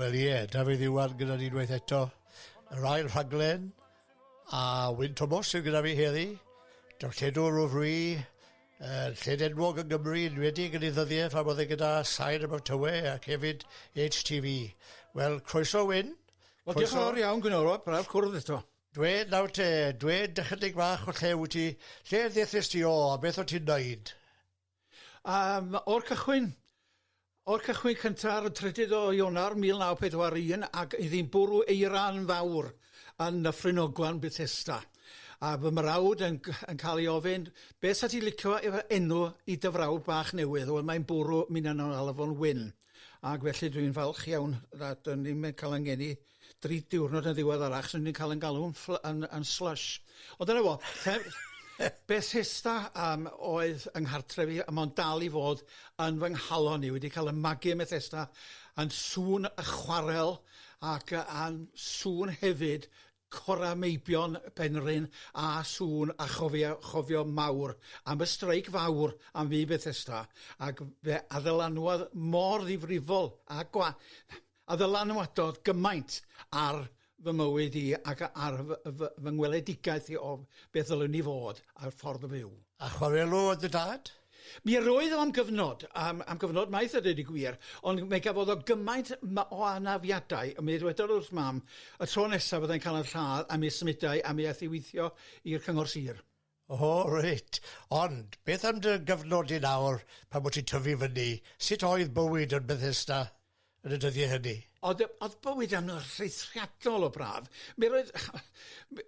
Wel ie, Dafydd Iwan gyda ni unwaith eto. Yr ail rhaglen, a Wyn Tomos sydd gyda fi heddi, darlledwr o fri, uh, lled enwog yn Gymru, yn wedi yn ei ddyddiau phan oedd e gyda Sain am Tywe ac hefyd HTV. Wel, croeso Wyn. Wel, diolch yn fawr iawn, Gwyn Orwab, braf cwrdd eto. Dwe, nawr te, dwe dychydig fach o lle wyt ti, lle ddethys ti o, a beth o ti'n neud? A yym o'r cychwyn, o'r cychwyn cynta ar y trydydd o Ionawr 1941 ac iddi'n bwrw eira'n fawr yn Nyffryn Ogwen, Bethesda, a fy mrawd yn g- yn cael ei ofyn, Be' 'sa ti'n licio efo enw i dy frawd bach newydd? Wel mae'n bwrw, minnau'n alw fo'n Wyn. Ac felly dwi'n falch iawn nad o'n ni'n cael ein geni dri diwrnod yn ddiweddarach, achos o'n ni'n cael ein galw'n yn, yn slush. Ond dyna fo, Bethesda um, oedd yng nghartref i, a mae'n dal i fod yn fy nghalon i. Wedi cael y magu ym Bethesda, yn sŵn y chwarel, ac yn sŵn hefyd Cora Meibion, Penrhyn a sŵn a chofia chofio mawr am y streic fawr am fu Bethesda ac fe addylanwad mor ddifrifol a gwa- a ddylanwadodd gymaint ar fy mywyd i ac ar fy, fy, fy ngweledigaeth i o beth ddylwn i fod a'r ffordd o fyw. A chwarelw o dy dad? Mi roedd o am gyfnod, am, am gyfnod maith a dweud y gwir, ond mae gafodd o gymaint ma- o anafiadau, mi ddwedodd wrth mam, y tro nesaf fyddai'n cael yn lladd, a mi symudai, a mi aeth i weithio i'r Cyngor Sir. O, reit. Ond, beth am dy gyfnod di nawr, pan bod ti'n tyfu fyny, sut oedd bywyd yn Bethesda? yn y dyddiau hynny. O'dd yy o'dd bywyd yn rheithriadol o braf. Mi roedd mi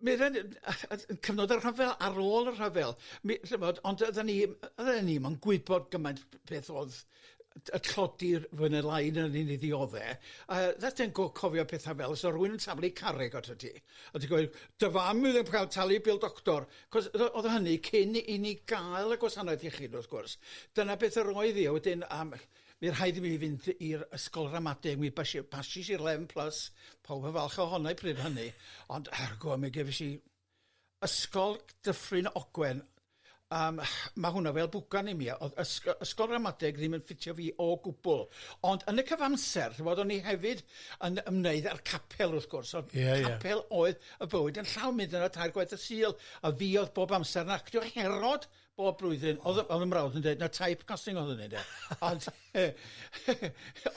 mi roedd yn yy yn cyfnod y rhyfel ar ôl y rhyfel mi ch'mod ond oeddan ni m- oeddan ni'm yn gwybod gymaint b- beth o'dd t- yy tlodi'r fwy ne' lai na ni ni ddiodde' a that's yn go- cofio petha fel sa rywun yn taflu carreg atat ti a ti'n gweud dy fam fydd yn ca'l talu bil doctor 'c'os yy o'dd hynny cyn i ni ga'l y gwasanaeth iechyd wrth gwrs dyna beth yr oedd 'i a wedyn am Mi rhaid i mi fynd i'r ysgol ramadeg, mi bas i, basis i'r Lem Plus, pawb yn falch ohona i pryd hynny, ond ergo mi gefis i ysgol Dyffryn Ogwen, um, mae hwnna fel bwgan i mi, oedd ysg ysgol ramadeg ddim yn ffitio fi o gwbl, ond yn y cyfamser, ti'n bod, o'n i hefyd yn ymwneud â'r capel wrth gwrs, oedd yeah, capel yeah. oedd y bywyd yn llawn mynd yna tair gwaith y sil, a fi oedd bob amser yn actio Herod Bob blwyddyn o'dd y o'dd 'yn mrawd yn deud na type casting o'dd hynny ynde? Ond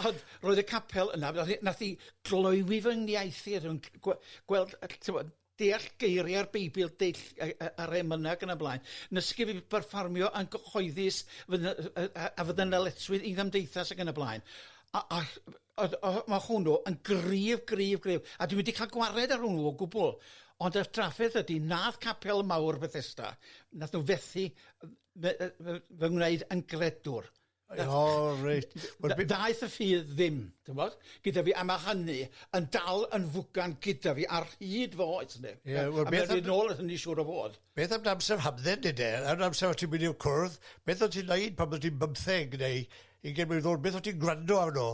ond roedd y capel yna nath 'i nath 'i gloywi fy ngiaith i rhwng c- gwe- gweld yy t'mod deall geiria'r Beibl dull yy yy yr emyna ac yn y blaen nysgu fi berfformio yn gyhoeddus fy- yy yy a fy ddynaletswydd i gymdeithas ac yn y blaen a a Oedd, oedd, mae hwnnw yn gryf, gryf, gryf. A dwi wedi cael gwared ar hwnnw o gwbl. Ond y trafferth ydy, nath capel mawr Bethesda, nath nhw fethu fy, fy ngwneud yn gredwr. O, oh, reit. Well, Ddaeth y ffydd ddim, ti'n bod, gyda fi, a mae hynny yn dal yn fwgan gyda fi ar hyd fo oes ni. Yeah, well, a mae'n rhaid nôl at hynny siŵr o fod. Beth am amser hamdden, dydw? Am amser o ti'n mynd i'w cwrdd, beth o ti'n neud pan bod ti'n bymtheg neu Yn lle meddwl beth o't ti'n gwrando arno,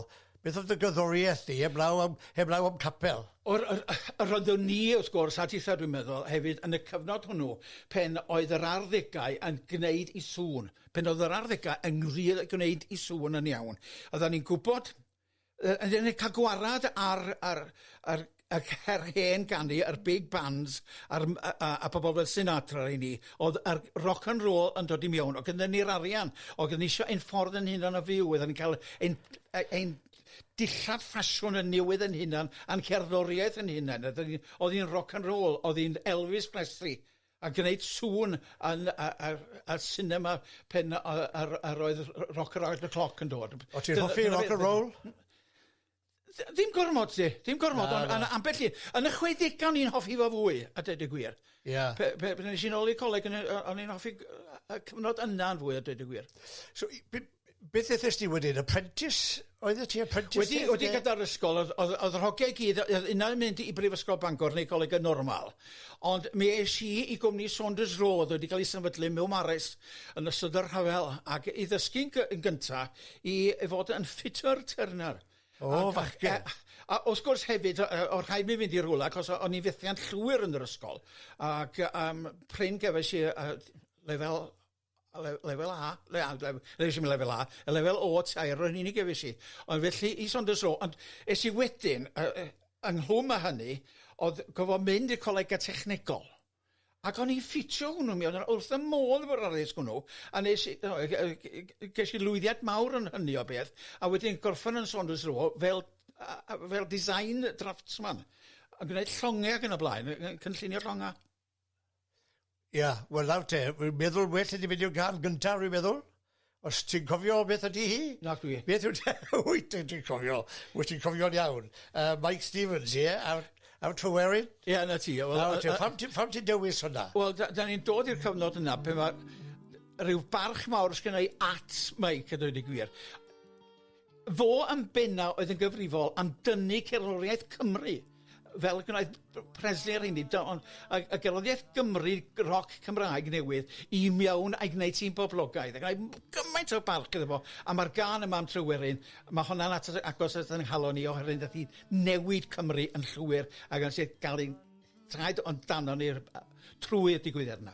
beth oedd dy gerddoriaeth di heblaw am heblaw am capel? Yr yr yy roeddwn ni wrth gwrs a tithe dwi'n meddwl hefyd yn y cyfnod hwnnw pen oedd yr arddegau yn gneud 'i sŵn, pen oedd yr arddegau yn ngri- gwneud 'i sŵn yn iawn. Oeddan ni'n gwbod Yy yn cael gwarad ar ar ar ar her hen ganu a'r big bands a'r m- a a a pobl fel Sinatra i ni o'dd yr rock and roll yn dod i mewn o gyda ni'r arian o gyda ni isio ein ffordd yn hunan o fyw oedden ni'n ca'l ein yy ein dillad ffasiwn yn newydd yn hunan a'n cerddoriaeth yn hunan a 'dyn ni o'dd 'i'n rock and roll o'dd 'i'n Elvis Presley a gwneud sŵn yn y y y sinema pen o- yy yr yr oedd r- Rock Around the Clock yn dod. O' ti'n hoffi rock and roll? Dd- ddim gormod 'lly, ddim gormod... Na, na. ...ond on' ambell i yn y chwedega o'n i'n hoffi fo fwy a deud y gwir. Ia. Pe- pe- pan esh i nôl i'r coleg o'n i o- o'n i'n hoffi gy- yy y cyfnod yna yn fwy a deud y gwir. So i be- Beth ethest ti wedyn? Apprentice? Oedd ti apprentice? Wedi, wedi gyda'r ysgol, oedd, oedd, oedd yr hogiau gyd, oedd unau yn mynd i Brifysgol Bangor neu Coleg y Normal. Ond mi eis i i gwmni Saunders Rowe, oedd wedi cael ei sefydlu mewn mares yn ystod yr rhyfel, ac i ddysgu'n yn gyntaf i, i fod yn ffitter turner. O, oh, fachgen. A, a, os gwrs hefyd, o'r rhaid mi fynd i rhywle, cos o'n i'n fethiant llwyr yn yr ysgol. Ac um, pryn gefais i uh, lefel A le- lefel A le- a- lef- neis i'm lefel A, y lefel O tair yn unig efys i. Ond felly i Saunders Row, ond es i wedyn, uh, uh, ynghlwm â hynny, oedd gofo mynd i'r colega technegol. Ac o'n i'n ffitio hwnnw mi, oedd yn wrth y modd efo'r addysg hwnnw, a nes i, no, ges i lwyddiad mawr yn hynny o beth, a wedyn gorffan yn Saunders Row fel, uh, fel design draftsman, yn gwneud llongau ac yn y blaen, yn cynllunio llongau. Ia, wel nawr te, wi'n meddwl well i ti fynd i'r gan gyntaf, rwy'n meddwl. Os ti'n cofio beth ydy hi? Nac dwi. Beth yw te? Wyt ti'n cofio, wyt ti'n cofio'n iawn. Uh, Mike Stevens, ie? Yeah? Ar Tryweryn? Ie, yeah, na ti. Well, a, a, pam, ti, pam ti'n dewis hwnna? Wel, da, da ni'n dod i'r cyfnod yna pe mae rhyw barch mawr sgynnau at Mike, a dweud y gwir. Fo yn bena oedd yn gyfrifol am dynnu cerddoriaeth Cymru fel y gwnaeth b- Presley ar hynny do- ond a a gerddoriaeth Gymru g- roc Cymraeg newydd i mewn a'i gwneud hi'n boblogaidd ac m- gymaint o barch iddo fo a ma'r gân yma am Tryweryn ma' honna'n at- agos at 'yn nghalon i oherwydd nath hi newid Cymru yn llwyr ag yn sicr ga'l ein traed o'n danon ni r- yy trwy'r digwyddiad yna.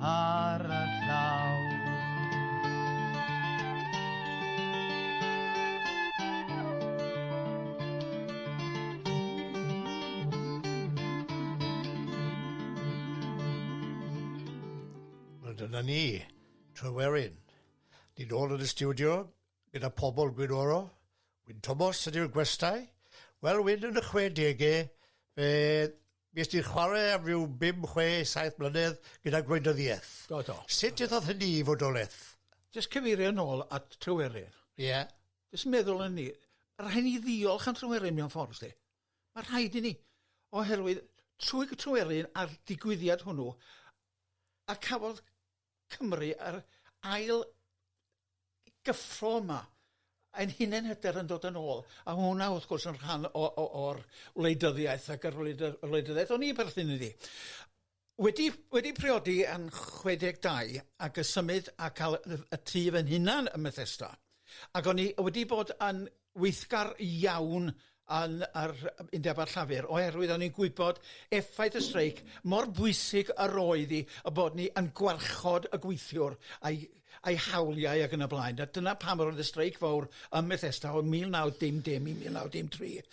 ar y llaw. Wel, dyna ni, Trywerin. Ni'n ôl yn y studio gyda pobl Gwynoro. Wyn Thomas ydy'r gwestai. Wel, Wyn yn y 60au, fe Fues ti'n chwarae am ryw bum, chwe, saith mlynedd gyda gwleidyddiaeth. Do, do. Sut ddathodd hynny i fodolaeth? Jyst cyfeirio nôl at Tryweryn. Ie. Jyst meddwl yn ni, rhaid ni ddiolch am Tryweryn mewn ffordd, sti. Mae rhaid i ni, oherwydd trwy Tryweryn a'r digwyddiad hwnnw, a cafodd Cymru yr ail gyffro yma ein hunen hyder yn dod yn ôl a ma' hwnna wrth gwrs yn rhan o o o'r wleidyddiaeth ac yr wleid- y wleidyddiaeth o'n i perthyn iddi. Wedi wedi priodi yn 62 ac y symud a ca'l y y tŷ fy nhunan ym Methesda ac o'n i wedi bod yn weithgar iawn yn yr Undeb a'r Llafur oherwydd o'n i'n gwybod effaith y streic, mor bwysig yr oedd hi y bod ni yn gwarchod y gweithiwr a'i a'i hawliau ac yn y blaen. A dyna pam yr oedd y streic fawr ym Methesda o 1910 i 1913.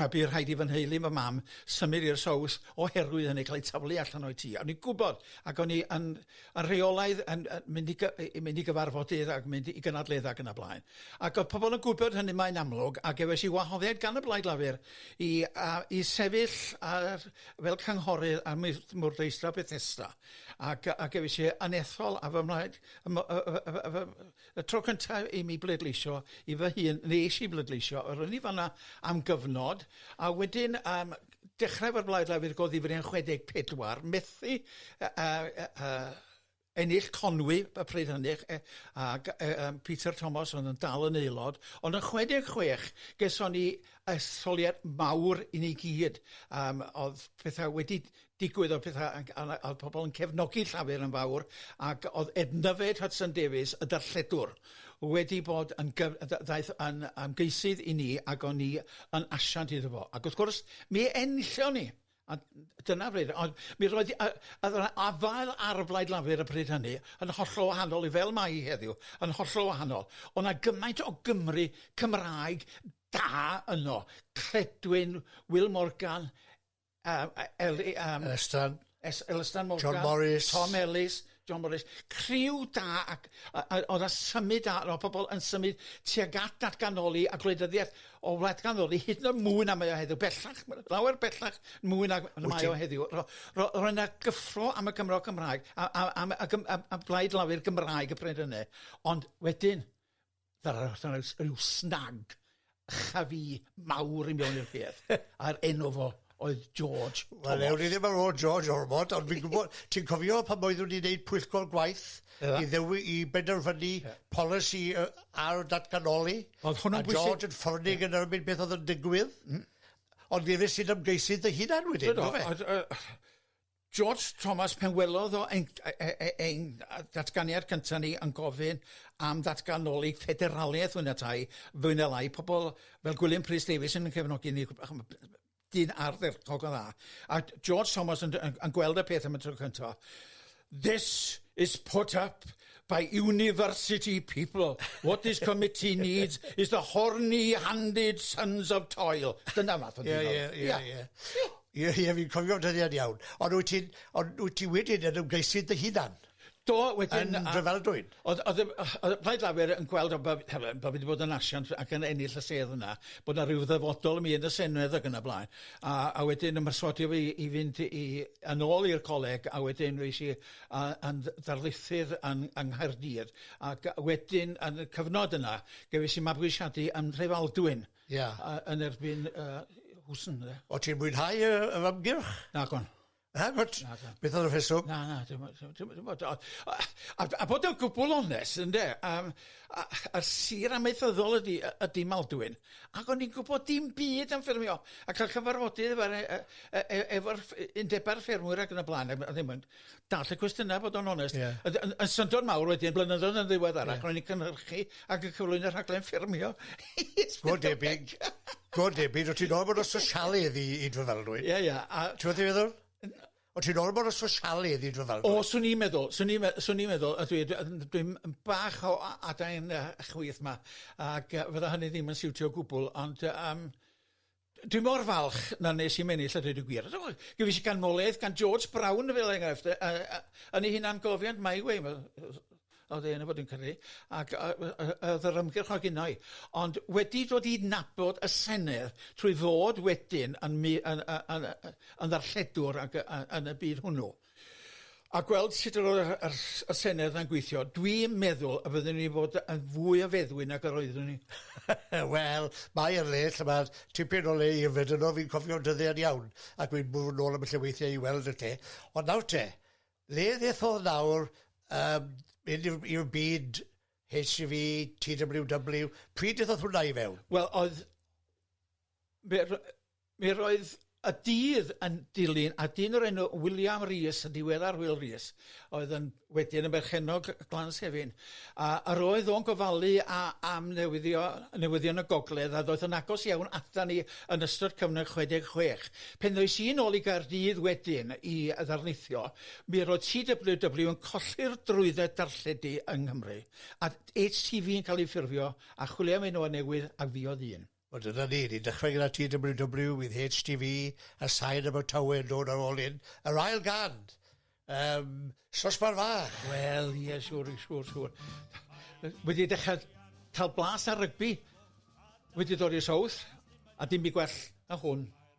a bu rhaid i fy nheulu fy mam symud i'r Sowth oherwydd hynny, cael eu taflu allan o'u tŷ. O'n i'n gwybod ac o'n i yn a rheolaidd yn yy mynd i gy- i mynd i gyfarfodydd ac mynd i gynadledda ac yn y blaen. Ac o'dd pobol yn gwybod hynny mae'n amlwg a gefais i wahoddiad gan y Blaid Lafur i a i sefyll ar fel cynghorydd ar mwyth- mwrdheistra Bethesda ac yy a gefais i anethol a fy mlaid y mo- yy yy yy yy yy y tro cynta i mi bleidleisio i fy hun nes i bleidleisio a ro'n i fan 'na am gyfnod a wedyn yym dechrau efo'r Blaid Lafur ag o ddifri yn chwe deg pedwar, methu yy yy yy yy ennill Conwy y pryd hynny ch- yy ag yy yym Peter Thomas o'dd yn dal yn aelod ond yn chwe deg chwech geson ni etholiad mawr i ni gyd yym o'dd petha wedi digwydd o'dd petha yn g- a ma' o'dd pobol yn cefnogi Llafur yn fawr ac o'dd Edna Fay Hudson Davies y darlledwr wedi bod yn gyf- dda- ddaeth yn ymgeisydd i ni ac o'n ni yn asiant iddo fo. Ac wrth gwrs, mi enllio ni. A dyna bryd, ond mi roedd y, a, a, afael ar y Blaid Lafur y pryd hynny yn hollol wahanol i fel mae heddiw, yn hollol wahanol. Ond na gymaint o Gymru Cymraeg da yno. Cledwyn, Will Morgan, Yym a- Eli- yym... Elystan. Es- Elystan Morgan. John Morris. Tom Ellis, John Morris. Criw da ac a- a- o'dd 'na symud da o' pobol yn symud tuag at datganoli a gwleidyddiaeth o wladganoli hyd yn o'd mwy na mae o heddiw bellach ma' lawer bellach mwy nag na mae o heddiw ro- ro- roedd 'na gyffro am y Gymro Cymraeg a a am y gym- am am blaid lafur Gymraeg y pryd hynny ond wedyn ryw snag chafi mawr i mewn i'r peth, a'r enw fo oedd George Thomas. Wel, ewn ni ddim ar ôl George Ormond, ond fi'n gwybod, ti'n cofio pan oeddwn ni'n neud pwyllgol gwaith i ddewi, i benderfynu polisi yy ar datganoli, a George yn ffyrnig yn erbyn beth oedd yn digwydd, ond fi isie dy ymgeisydd dy hunan wedyn, yndyfe? George Thomas, pan welodd o ein, ein datganiad cyntaf ni yn gofyn am ddatganoli ffederaliaeth fwy na tai, fwy na lai, pobl fel Gwilym Prys Davies yn cefnogi ni, dyn ardderchog o dda. A George Thomas yn, yn, yn gweld y peth am y tro cyntaf, This is put up by university people. What this committee needs is the horny-handed sons of toil. Dyna fath o dyn. Ie, ie, ie. Ie, ie, fi'n cofio'r dyddiad iawn. Ond wyt ti'n... Ond wyt ti wedyn yn ymgeisydd dy hunan? Do, wedyn... Yn Dryfeldwyn? Oedd, oedd, oedd Plaid Lafur yn gweld o bod, hefo, bod fi wedi bod yn asiant ac yn ennill y sedd yna, bod yna rhyw ddyfodol i mi yn y Senedd ac yna blaen. A, a wedyn ymhyswodio fi i fynd i, yn ôl i'r coleg, a wedyn fi si a, yn ddarlithydd yn, yng Nghaerdydd. Ac wedyn, yn y cyfnod yna, gefis i mabwysiadu yn Nhrefaldwyn. Ia. A yn erbyn yy Hooson ynde? O' ti'n mwynhau yy yr ymgyrch? Nagon. Nagwt? Nagon. Beth o'dd y rheswm? Na na dim o- dim dim o- a a a bod yn gwbwl onest ynde yym a- a'r sir amaethyddol ydi yy ydi Maldwyn ac o'n i'n gwbod dim byd am ffermio a ca'l cyfarfodydd efo re- yy e- e- efo'r ffe- undeba'r ffermwyr ac yn y bla'n a ma' ddim yn Dall y cwestiynau, bod o'n onest. Yeah. Yn, yn, yn syndod mawr wedyn, blynyddoedd yn ddiweddar, yeah. ro'n i'n cynhyrchu ac yn cyflwyno y rhaglen ffermio. Go debyg. Go debyg. O ti'n ôl bod o sosialydd i, i dwyfelrwydd. Ie, ie. Ti'n fawr i feddwl? O ti'n ôl bod o sosialydd i dwyfelrwydd? O, swn i'n meddwl. Swn i'n meddwl. Swn i'n meddwl. Dwi'n dwi, dwi bach o adain uh, chwyth ma. Ac uh, fydda hynny ddim yn siwtio gwbl. Ond... Um, Dwi mor falch na nes i'm ennill a dweud y gwir. Gyfeis ganmoliaeth gan George Brown fel enghraifft. A, a, yn ei hunan gofiant mae wei, oedd ei yn y bod yn cyrru, ac oedd yr ymgyrch o gynnau. Ond wedi dod i nabod y Senedd trwy fod wedyn yn, yn, yn, yn, yn ddarlledwr ac yn y byd hwnnw. a gweld sut yr oedd yr, yr, y Senedd yna'n gweithio, dwi'n meddwl y byddwn ni fod yn fwy o feddwyn nag yr oeddwn ni. Wel, mae ar le, lle mae tipyn o le i yfed yno, fi'n cofio dyddiau'n iawn, ac fi'n bwrw nôl am y lle weithiau i weld y lle. Ond nawr te, le ddethodd nawr um, mynd i'r byd HGV, TWW, pryd ddethodd hwnna i fewn? Wel, oedd... Mi roedd y dydd yn dilyn a dyn o'r enw William Rees, yn ddiweddar Wil Rees, oedd yn wedyn yn berchennog Glan Sefin, a yr oedd o'n gofalu a, am newyddio, newyddion y gogledd a ddoeth yn agos iawn ata ni yn ystod cyfnod 66. Pen ddoes i'n ôl i Gaerdydd wedyn i ddarlithio, mi roedd TWW yn colli'r drwydded darlledu yng Nghymru, a HTV yn cael ei ffurfio, a chwilio am enwau newydd, a fi oedd un. Wel dyna ni, ni'n dechrau gyda TWW with HTV, a sain Abertawe yn dod ar ôl hyn. Yr ail gan! Um, Sosbar Fach! Wel, ie, yeah, siwr, siwr, siwr. Wedi dechrau cael blas ar rygbi, wedi dod i'r South, a dim i gwell na hwn.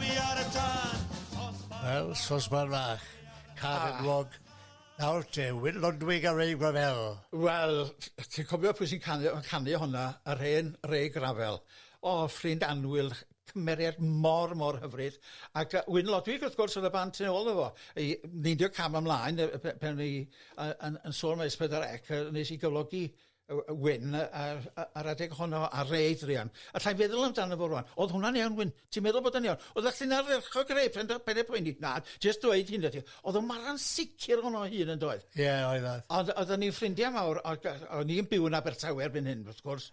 Fi ar y tân! Wel, sosban fach, car yn wlog. Nawr te, Wil Lodwig a Ray Gravell. Wel, ti'n cofio pwy sy'n canu, canu honna? Yr hen Ray Gravell. O, ffrind annwyl, cymeriad mor, mor hyfryd. Ac uh, Wyn Lodwig, wrth gwrs, oedd y band tu ôl efo. I 90 cam ymlaen, pen i yn, yn sôn mae S4C, nes i gyflogi yy yy Wyn yy a'r yy a'r adeg honno ar ei druan. Alla i'n feddwl amdano fo rŵan. O'dd hwnna'n iawn Wyn. Ti'n meddwl bod o'n iawn? Oeddach chdi'n ardderchog rei pen dy ben dy poeni. Na, jyst dweud hyn ydi. O'dd o'n mara'n sicir ohono ei hun yndoedd? Ie oedd oedd. Ond oedden ni'n ffrindia mawr o' g- o' ni'n byw yn Abertawe erbyn hyn wrth gwrs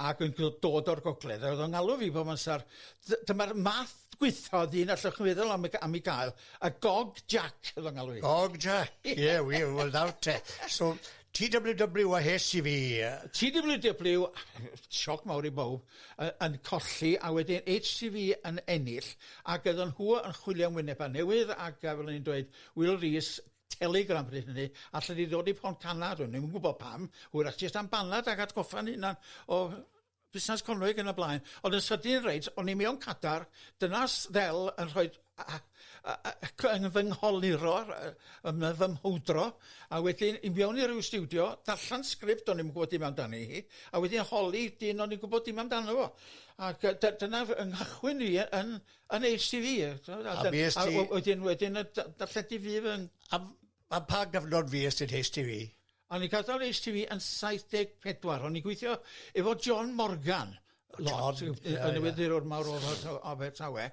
ac yn gw- dod o'r gogledd a o'dd o'n ngalw fi bob amsar dy- dyma'r math gwitha o ddyn allwch chi feddwl am ei g- am ei gael, y Gog Jack o'dd o'n ngalw fi. Gog Jack. Ie wir wel nawr te. So TWW a hes i fi. TWW, sioc mawr i bawb, yn colli a wedyn HCV yn ennill ac oedden nhw yn chwilio am wynebau newydd ac fel o'n i'n dweud, Wil Rees, Telegram bryd hynny, allet ti ddod i Pontcanna? Do'n i'm yn gwybod pam, hwyrach jyst am banad ac atgoffa'n hunan o busnas conwy ac yn y blaen ond yn sydyn reit o'n i mewn cadar dyna s- ddel yn rhoi a- a- a- a- y c- yn fy ngholuro r- yy yn my- fy mhowdro a wedyn i mewn i ryw stiwdio darllan sgript o'n i'm gwbod dim amdani hi a wedyn holi dyn o'n i'n gwbod dim amdano fo ac yy dy- dyna fy nghychwyn i yy yn yn Heitch Tee Vee yy t'mod a dy- a fues ti... a w- wedyn wedyn yy d- darllen ti fydd yn a f- Pa, pa gyfnod fi ystod HTV? O'n i'n cael HTV yn 74. O'n i'n gweithio efo John Morgan. Lord, yn y weddi'r o'r mawr o'r Abertawe,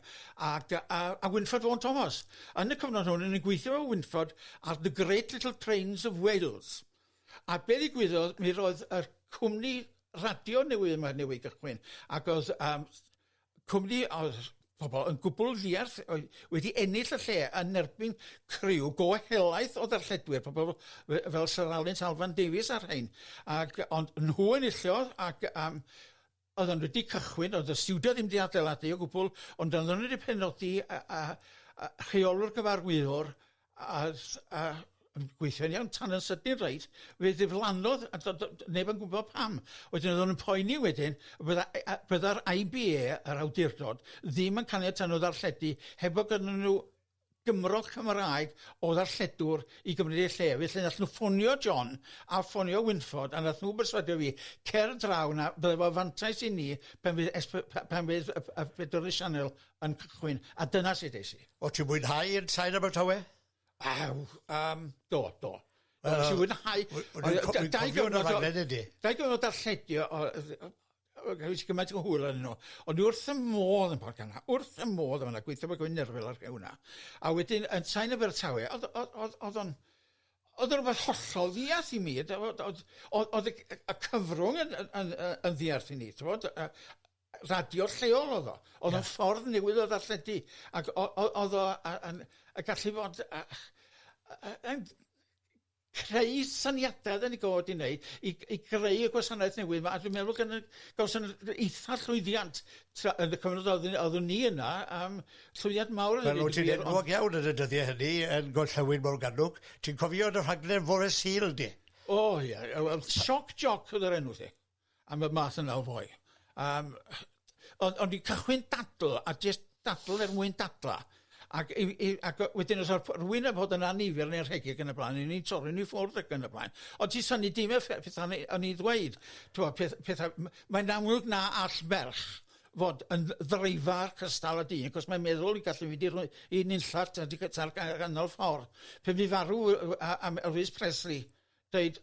ac a, a Winford Vaughan Thomas. Yn y cyfnod hwn, yn gweithio o Winford ar The Great Little Trains of Wales. A be ddigwyddodd, mi roedd y cwmni radio newydd yma newydd gychwyn, ac oedd um, cwmni a oedd pobl yn gwbl ddiarth oedd wedi ennill y lle yn erbyn criw go helaeth o ddarlledwyr, pobl fel Sir Alun Salfan Davies a'r rhain. Ac, ond nhw enillodd ac um, oedd nhw wedi cychwyn, oedd y studio ddim wedi adeiladu o gwbl, ond oedd nhw wedi penodi a, a, a rheolwr gyfarwyddwr a s- a yn gweithio'n iawn tan yn sydyn reit fe ddiflannodd a do- do- do- neb yn gwbo pam. Wedyn oddwn yn poeni wedyn fydda e- a- bydda'r I Bee Ay yr awdurdod ddim yn caniatau n'w ddarlledu heb fo' gynnyn n'w Gymro Cymraeg o ddarlledwr i gymryd eu lle felly nath n'w ffonio John a ffonio Wynford a nath n'w berswadio fi cer draw 'na bydde fo fantais i ni pan fydd es- pe- pe- pan fydd y y pedwar y sianel yn cychwyn, a dyna sut es i. O' ti'n mwynhau yn Sain Abertawe? Aw, um, do, do. Uh, nes i fwynhau... Dau gyfnod o darlledio, Rwy'n si gymaint o hwyl yn nhw. Ond wrth y modd yn Port Canna, wrth y modd yn fanna, gweithio fe gwyn nerfel ar hwnna. A wedyn, yn Sain Abertawe, oedd o'n... Oedd o'n rhywbeth hollol ddiarth i mi. Oedd y cyfrwng yn ddiarth i ni, ti'n bod? radio lleol o'dd o. O'dd o'n ffordd newydd o ddarlledu ag o- o- o'dd o a- yn y gallu fod a- a- yy yn creu syniada oddan ni god 'di neud i i greu y gwasanaeth newydd 'ma a dwi'n meddwl gynna- gawson ni eitha llwyddiant tra- yn y cyfnod oeddwn oeddwn ni yna yym llwyddiant mawr i ddeud y gwir. Wel o' ti'n iawn yn y dyddie hynny yn Gorllewin Morgannwg ti'n cofio dy rhaglen fore Sul di? O ie yy wel shock jock o'dd yr enw 'lly. am y math yna o foi. Um, ond, ond i cychwyn dadl, a jyst dadl er mwyn dadla. Ac, i, i, ac wedyn os oedd rhywun yn fod yn anifel neu'n rhegig yn y blaen, yn ni'n torri ni ffwrdd ac yn y blaen. Ond ti syni dim effaith pethau o'n i ddweud. Peth, pethau, mae'n amlwg na all merch fod yn ddreifar cystal y dyn, cos mae'n meddwl i gallu mynd i'r i nunllach ta'r ganol ffordd. Pe mi farw am Elvis Presley, dweud,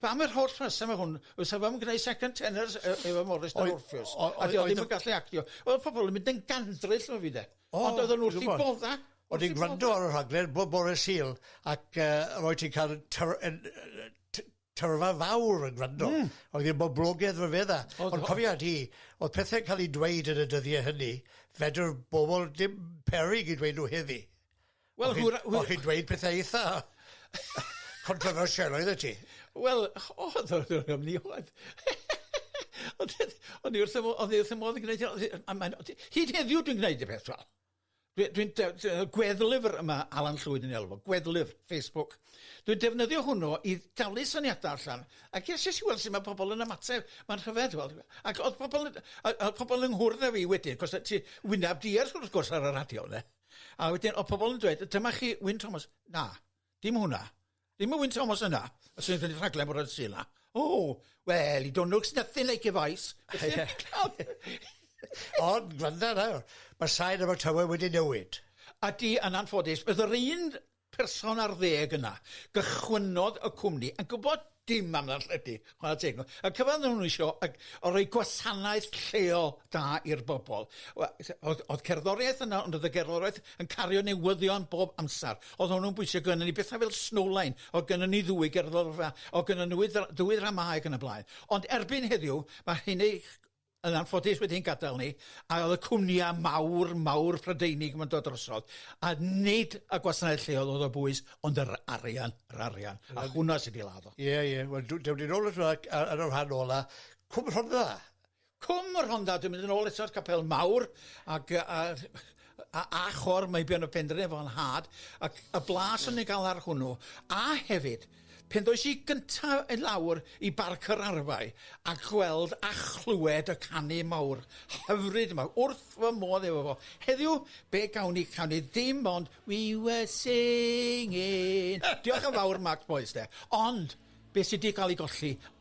pam yr holl rheswm o hwn, fysa fo ddim yn gwneud second tenors e- efo Morris dan Orffews, a oedd o ddim yn gallu actio. Oedd pobl yn mynd yn gandryll o fi de, ond oedd o'n wrth i bodda. Oedd i'n gwrando ar y rhaglen bob bore Sul, ac uh, roi ti'n cael tyrfa fawr yn gwrando. Mm. Oedd i'n boblogedd rhyfedd a. Ond cofia di, oedd pethau'n cael ei dweud yn y dyddiau hynny, fedr bobl dim perig i dweud nhw heddi. Wel hwr- yy hwy-... O' chi'n dweud pethe eitha controversial oeddet ti. Wel o'dd o o'dd o'n myn' i fod. Ond yy o'n i wrth fy mo- o'n i wrth fy modd yn gneud o a mae'n o' ti... Hyd heddiw dwi'n gneud y peth 'ma. Dwi dwi'n de- ti weld gweddlyfr yy ma' Alan Llwyd yn ei alw fo gweddlyfr Facebook dwi'n defnyddio hwnnw i dalu syniada allan a ges jyst i weld su' ma' pobol yn ymateb ma'n rhyfedd weld yfe ac o'dd pobol yn yy yy o'dd pobol yng nghwrdd â fi wedyn 'c'os o' ti wynab di ar wrth gwrs ar y radio ynde? A wedyn, o pobl yn dweud, dyma chi Wyn Thomas. Na, dim hwnna. Dim y Wyn Thomas yna. A sy'n gwneud rhaglen bod o'r sy'n yna. O, well, he don't looks nothing like a vice. Ond, gwranda nawr, mae sain efo tywe wedi newid. A di, yn anffodus, bydd yr un person ar ddeg yna gychwynnodd y cwmni yn gwybod dim am ddarlledu, chwarae teg nhw. Y cyfan oedden nhw isio y, o roi gwasanaeth lleol da i'r bobl. Oedd, oedd cerddoriaeth yna, ond oedd y gerddoriaeth yn cario newyddion bob amser. Oedd hwnnw'n bwysig gynnu ni bethau fel Snowline, oedd gynnu ni ddwy gerddorfa, oedd gynnu ni ddwy ddramau ac yn y blaen. Ond erbyn heddiw, mae hyn ei yn anffodus wedi'n gadael ni, a oedd y cwmnïa mawr, mawr Prydeinig yn dod drosodd, a nid y gwasanaeth lleol oedd o bwys, ond yr arian, yr arian, a hwnna sydd wedi ladd o. Ie, ie, wel, dewn ni nôl eto ar yr rhan ola, Cwm Rhondda. Cwm Rhondda, dwi'n mynd yn ôl eto'r capel mawr, ac a, a, a chor, mae bion y pendref o'n had, ac y blas o'n i'n cael ar hwnnw, a hefyd, Pen ddois i gyntaf i lawr i Barc yr Arfau a gweld a chlywed y canu mawr hyfryd yma, wrth fy modd efo fo. Heddiw, be gawn ni canu ddim ond We were singing. Diolch yn fawr Mark Boyce 'de. Ond, be sy 'di cael ei golli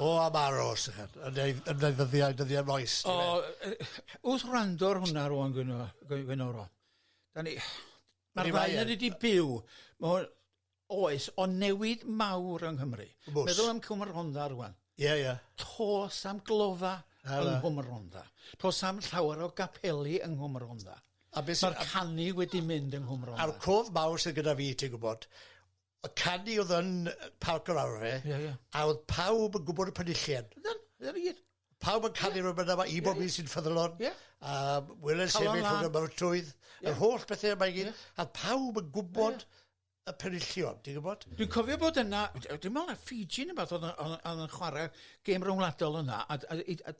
O, am aros, yn ei ddyddiau, dyddiau moes. O, wrth wrando'r hwnna rwan, Gwenoro. Da ni... Mae'r ddau wedi byw. Mae Oes, ond newid mawr yng Nghymru. Oes. Meddwl am Cwm y Rhondda rŵan. Ie, ie. To's am glofa yng Nghwm y Rhondda. To's am llawer o gapeli yng Nghwm y Rhondda. A be' sy... Ma'r canu wedi mynd yng Nghwm Rhondda. A'r cof mawr sydd gyda fi, ti'n gwybod, y canu oedd yn Parc yr Arfe, yeah, yeah. a oedd pawb yn gwybod y penillion. Ydyn, ydyn ni Pawb yn canu yeah. rhywbeth yma, i bob yeah, yeah. sy'n ffyddlon, yeah. a wylen sefyll rhwng y mawrtwydd, yeah. yr holl bethau yma i gyd, yeah. a pawb yn gwybod yeah y penillion, ti'n gwybod? Dwi'n cofio bod yna, dwi'n meddwl na Fiji neu beth oedd yn chwarae gêm rhwngwladol yna, a, a, a, a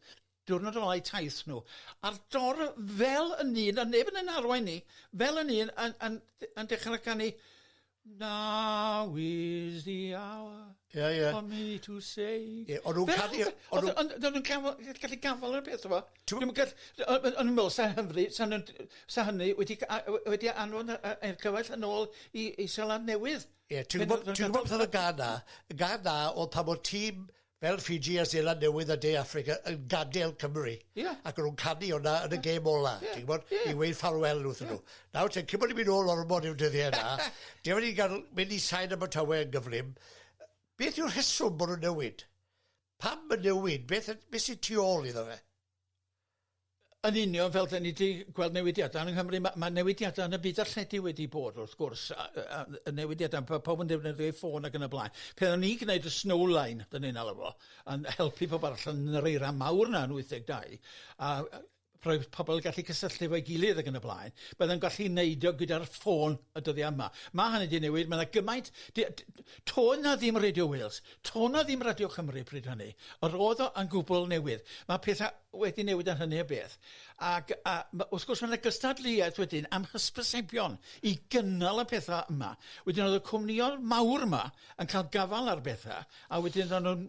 diwrnod o lai taith nhw, a'r dor fel yn un, a neb yn ein arwain ni, fel yn un, yn, yn, yn dechrau canu, Now is the hour yeah, yeah. for me to say... Yeah, o'n nhw'n canu... O'n nhw'n gallu gafael ar y peth, yma. Dwi'm yn gallu... o'n i'n meddwl 'sa Nghymru... 'sa nhw'n... 'sa hynny wedi ca- a- w- wedi anfon y y y cyfaill yn ôl i i Seland Newydd. Ie, ti'n gwbod ti'n gwbod beth o'dd y gân 'na? Y gân 'na o'dd pan o'dd tîm fel Fiji a Seland Newydd a De Affrica yn gadel Cymru. Ie. Ac o'n nw'n canu wnna yn y gêm ola. Ie. Ti'n gwbod? Ie. I weud ffarwel wrthyn nhw. Ie. Nawr te, cyn bo' ni'n mynd nôl ormod i'r dyddie 'na, dere ni ga'l mynd i sain Abertawe yn gyflym, yy beth yw'r rheswm bo' nw'n newid? Pam y newid? Beth, beth sy'n tu ôl iddo fe? Yn union fel dyn ni wedi gweld newidiadau yng Nghymru, mae, mae newidiadau yn y byd arlledu wedi bod wrth gwrs, a, a, a newidiadau, pa, pawb yn defnyddio ei ffôn ac yn y blaen. Pan o'n ni gwneud y snowline, dyn ni'n alw fo, yn helpu pobl allan yn yr eira mawr na yn 82, a rhoi pobl gallu cysylltu efo'i gilydd ac yn y blaen, byddai'n gallu neud o gyda'r ffôn y dyddiau yma. Mae hynny wedi newid, mae yna gymaint... To na ddim Radio Wales, to na ddim Radio Cymru pryd hynny. Yr oedd o yn gwbl newydd. Mae pethau wedi newid yn hynny o beth. Ac a, wrth gwrs mae yna gystadleuaeth wedyn am hysbysebion i gynnal y pethau yma. Wedyn oedd y cwmnïoedd mawr yma yn cael gafal ar bethau, a wedyn oedd nhw'n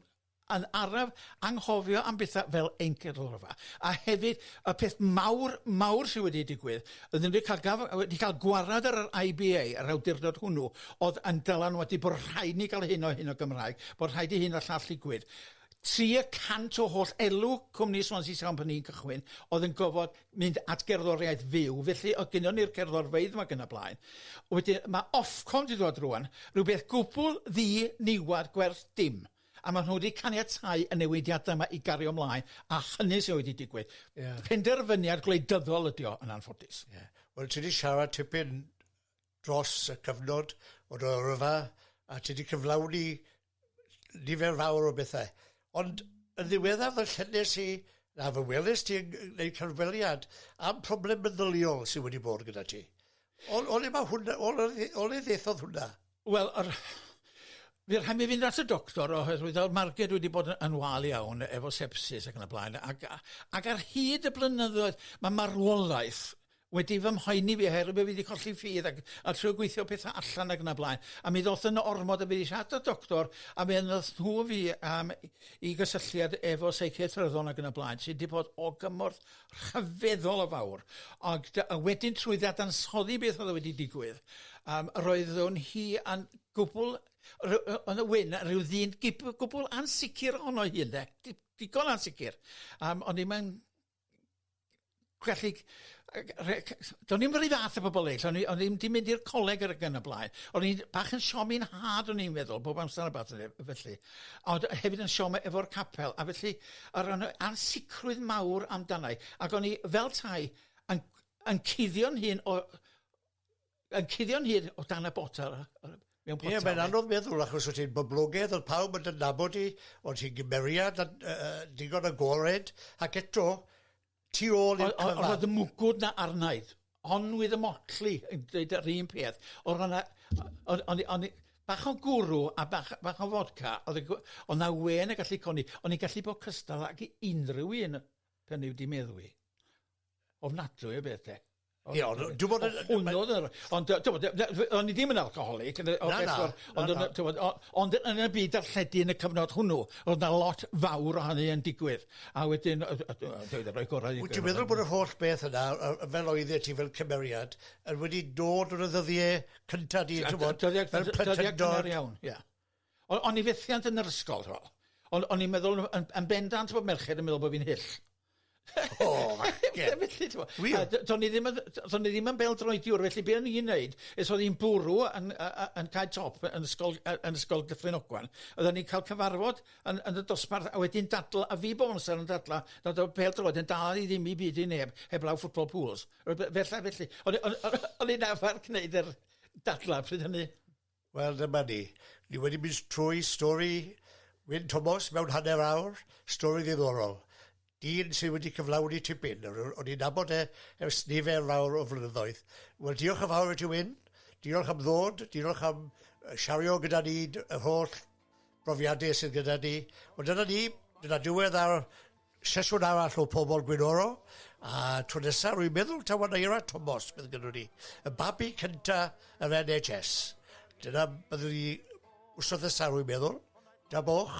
yn araf anghofio am bethau fel ein cyrlfa, a hefyd y peth mawr, mawr sydd wedi digwydd, oeddwn wedi cael gaf- wedi cael gwared ar yr IBA, yr awdurdod hwnnw, oedd yn dylanwadu bod rhaid ni gael hyn o hyn o Gymraeg, bod rhaid i hyn o'r llall ddigwydd. 300 o holl elw cwmni Swansea Sound pan ni'n cychwyn oedd yn gofod mynd at gerddoriaeth fyw, felly oedd gynnon ni'r cerddorfeydd yma gyna blaen. Wedyn mae Ofcom wedi dod rwan, rhywbeth gwbl ddi niwed gwerth dim. a maen nhw wedi caniatáu y newidiadau yma i gario ymlaen, a hynny sydd wedi digwydd. Yeah. Penderfyniad gwleidyddol ydy o, yn anffodus. Yeah. Wel, ti wedi siarad tipyn dros y cyfnod o dy yrfa, a ti wedi cyflawni nifer fawr o bethau. Ond yn ddiweddar fy llynnes i, na fy welys ti yn gwneud cyfweliad am problem meddyliol sydd wedi bod gyda ti. O, o le mae hwnna, o le ddethodd hwnna? Wel yr by' rhai' mi fynd at y doctor oherwydd o'dd marged wedi bod y- yn wâl iawn efo sepsis ac yn y blaen ag a- ag ar hyd y blynyddoedd ma' marwolaeth wedi fy mhoeni fi oherwydd bo' fi 'di colli ffydd ag a trio gweithio petha allan ag yn y blaen a mi ddoth yna ormod a fi 'di siarad â doctor a mi yn nath nhw fi am i gysylltiad efo seicia tryddol ag yn y blaen sy 'di bod o gymorth rhyfeddol o fawr ag dy- a wedyn trwy ddadansoddi beth o'dd o wedi digwydd yym roeddwn hi yn gwbwl ry- yy yn y wyn a ryw ddyn gip- yy gwbwl ansicir ohono hi ynde di- digon ansicir yym o'n i'm yn gwellhig yy g- rhe- c- s- do'n i'm yr un fath â pobol eryll o'n i o'n i'm 'di mynd i'r coleg yr ag yn y blaen o'n i'n bach yn siomi 'n nhad o'n i'n meddwl bob amsar a ballu felly ond hefyd yn siom efo'r capel, a felly o ran y ansicrwydd mawr amdana i, ac o'n i fel tai yn yn cuddio'n hun o yn cuddio'n hun o dan y botel yy mewn potel. Ie, mae'n anodd meddwl achos wyt ti'n boblogaidd, oedd pawb yn dy nabod di, o'n ti'n gymeriad yy digon agored, ac eto tu ôl i'r cyfan. O'dd y mwgwd 'na arnaid. Onwydd y motley yn deud yr un peth. O'dd yna o- o'n o'n i o'n i bach o gwrw a bach bach o fodca o'dd y gw- o' 'na wên yn gallu codi o'n i'n gallu bod cystal ag unryw un pan 'yf di meddwi. Ofnadwy o beth 'de. Ie ond dwi bod yn... Hwnnw o'dd yr... Ond yy t'mod yy yy o'n i ddim yn alcoholic yn yy... Na na. Ond yn y t'mod o- ond yn y byd darlledu yn y cyfnod hwnnw o'dd 'na lot fawr o hynny yn digwydd a wedyn yy yy yy dwi 'di roi gorau i... Wyt ti'n meddwl bod yr holl beth yna yy yy fel oeddet ti fel cymeriad yn wedi dod yn y ddyddie cynta di t'mod fel plentyndod... Dyddia cynnar iawn ia. O- o'n i fethiant yn yr ysgol, t'mo'. O'n o'n i'n meddwl o- yn yn bendant bod merched yn meddwl bo' fi'n hyll. O! Ie. Felly t'mo'... Wir? ...a do- do'n i ddim yn yy do- do'n i ddim yn bêl-droediwr felly be' o'n i'n neud is o'n i'n bwrw yn yy yy yn cae top yy yn ysgol yy yn ysgol Dyffryn Ogwen oddan ni'n ca'l cyfarfod yn yn y dosbarth a wedyn dadl- a fi bob amser yn dadla' nad o'dd pêl-droed yn dal i ddim i byd i neb heblaw football pools. Rwbe- fella felly. O'n i o'n o- o'n i'n arfar gneud yr dadla' pryd hynny. Wel, dyma ni. Ni wedi mynd trwy stori Wyn Tomos mewn hanner awr, stori ddiddorol. Dyn sydd wedi cyflawni tipyn, o'n i'n nabod e ers nifer fawr o flynyddoedd. Wel, diolch yn fawr i ti Wyn, diolch am ddod, diolch am siario gyda ni yr holl profiadau sydd gyda ni. Ond dyna ni, dyna diwedd ar sesiwn arall o Pobol Gwynoro, a tro nesaf rwy'n meddwl taw Anaira Tomos bydd gyda ni, y babi cynta yr NHS. Dyna byddwn ni wrth nesaf rwy'n meddwl. Da boch.